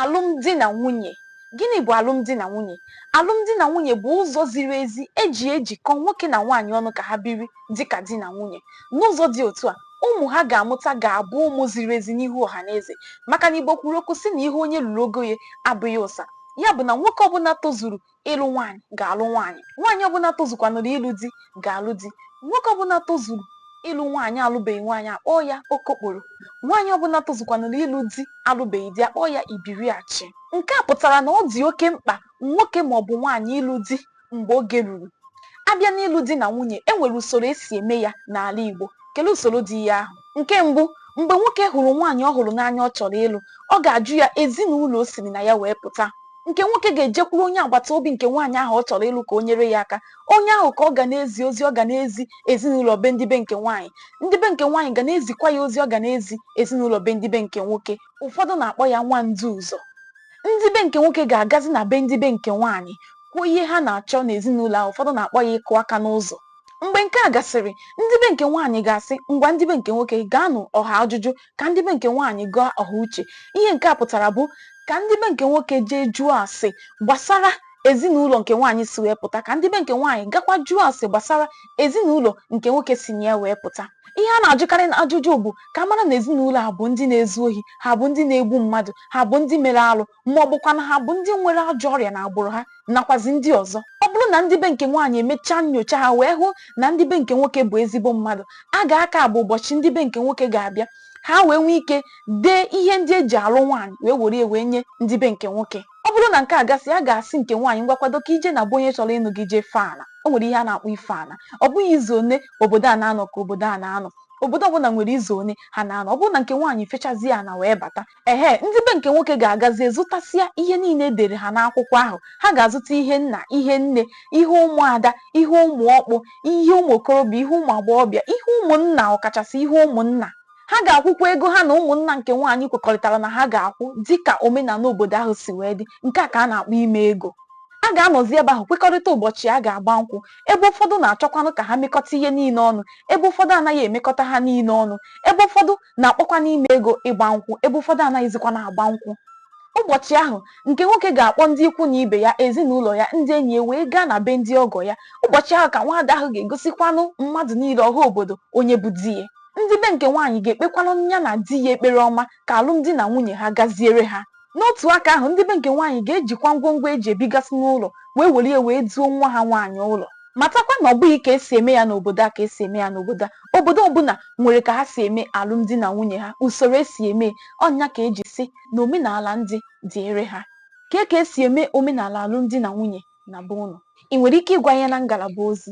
Alụmdi na nwunye. Gịnị bụ alụmdi na nwunye? Alụmdi na nwunye bụ ụzọ ziri ezi e ji ejikọ nwoke na nwaanyị ọnụ ka ha biri dị ka di na nwunye. N'ụzọ dị otu a, ụmụ ha ga-amụta ga-abụ ụmụ ziri ezi n'ihu ọha na eze. Maka na Igbo kwuru okwu sị na ihe onye ruru ogo ya abụghị ụsa. Ya bụ na nwoke ọbụla tozuru ịlụ nwaanyị ga-alụ nwaanyị nwaanyị ọbụla tozukwanụrụ ịlụ di ga-alụ di nwoke ọbụla tozuru ịlụ nwaanyị alụbeghị nwaanyị a kpọọ ya okokporo nwaanyị ọbụla tozukwanụrụ ịlụ di alụbeghị di a kpọọ ya ibiriachi nke a pụtara na ọ dị oke mkpa nwoke maọbụ nwaanyị ịlụ di mgbe oge ruru a bịa n'ịlụ di na nwunye e nwere usoro e si eme ya n'ala Igbo kelee usoro dị ya ahụ nke mbụ mgbe nwoke hụrụ nwaanyị ọ hụrụ n'anya ọ chọrọ ịlụ ọ ga-ajụ ya ezinụlọ o siri na ya wee pụta nke nwoke ga-ejekwuru onye agbata obi nke nwaanyị ahụ ọ chọrọ ịlụ ka o nyere ya aka onye ahụ ka ọ ga na-ezi ozi ọ ga na-ezi ezinụlọ be ndị be nke nwaanyị ndị be nke nwaanyị ga na-ezikwa ya ozi ọ ga na-ezi ezinụlọ be ndị be nke nwoke ụfọdụ na-akpọ ya nwa ndu ụzọ ndị be nke nwoke ga-agazi na be ndị be nke nwaanyị kwuo ihe ha na-achọ n'ezinụlọ ahụ ụfọdụ na-akpọ ya ịkụ aka n'ụzọ mgbe nke a gasịrị ndị be nke nwaanyị ga-asị ngwa ndị be nke nwoke gaanụ ọha ajụjụ ka ndị be nke nwaanyị gaa ọha uche ihe nke a pụtara bụ ka ndị be nke nwoke jee jụọ ase gbasara ezinụlọ nke nwaanyị si wee pụta ka ndị be nke nwaanyị gakwa jụọ ase gbasara ezinụlọ nke nwoke si na ya wee pụta ihe a na-ajụkarị n'ajụjụ bụ ka a mara na ezinụlọ a bụ ndị na-ezu ohi ha bụ ndị na-egbu mmadụ ha bụ ndị mere alụ ma ọ bụkwanụ ha bụ ndị nwere ajọ ọrịa n'agbụrụ ha nakwazi ndị ọzọ ọ bụrụ na ndị be nke nwaanyị emechaa nyocha ha wee hụ na ndị be nke nwoke bụ ezigbo mmadụ a ga-aka bụ ụbọchị ndị be nke nwoke ga-abịa ha wee nwee ike dee ihe ndị e ji alụ nwaanyị wee were wee nye ndị be nke nwoke ọ bụrụ na nke a gasị a ga-asị nke nwaanyị ngwa kwado ka i jee na be onye chọrọ ịnụ gị jee fee ala o nwere ihe a na-akpọ ife ala ọ bụghị izu one obodo a na-anọ ka obodo a na-anọ obodo ọbụla nwere izu one ha na-anọ ọ bụrụ na nke nwaanyị fechazie ana wee bata Ehe, ndị be nke nwoke ga-agazie zụtasịa ihe niile e dere ha n'akwụkwọ ahụ. Ha ga-azụta ihe nna, ihe nne, ihe ụmụada, ihe ụmụ ọkpụ, ihe ụmụ okorobịa, ihe ụmụ agbọghọbịa, ihe ụmụnna ọkachasị ihe ụmụnna. Ha ga-akwụkwa ego ha na ụmụnna nke nwaanyị kwekọrịtara na ha ga-akwụ dị ka omenala obodo ahụ si wee dị. Nke a ka a na-akpọ ime ego. A ga-anọzi ebe ahụ kwekọrịta ụbọchị a ga-agba nkwụ. Ebe ụfọdụ na-achọkwanụ ka ha mekọta ihe niile ọnụ, ebe ụfọdụ anaghị emekọta ha niile ọnụ, ebe ụfọdụ na-akpọkwanụ ime ego ịgba nkwụ ebe ụfọdụ anaghịzikwa na-agba nkwụ. Ụbọchị ahụ, nke nwoke ga-akpọ ndị ikwu na ibe ya, ezinụlọ ya, ndị enyi ya wee gaa na be ndị ọgọ ya. Ụbọchị ahụ ka nwaada ahụ ga-egosikwanụ mmadụ niile ọha obodo onye bụ di ya. Ndị be nke nwaanyị ga-ekpekwanụ ya na di ya ekpere ọma ka alụmdi na nwunye ha gaziere ha. N'otu aka ahụ, ndị be nke nwaanyị ga-ejikwa ngwongwo e ji ebigasị n'ụlọ wee were ya wee duo nwa ha nwaanyị ụlọ. Matakwa na ọ bụghị ka e si eme ya n'obodo a ka e si eme ya n'obodo a. Obodo ọbụla nwere ka ha si eme alụmdi na nwunye ha, usoro e si eme ya. Ọ nya ka e ji sị na omenaala ndị dịịrị ha. Kee ka e si eme omenaala alụmdi na nwunye na be unu? I nwere ike ịgwa anyị ya na ngalaba ozi.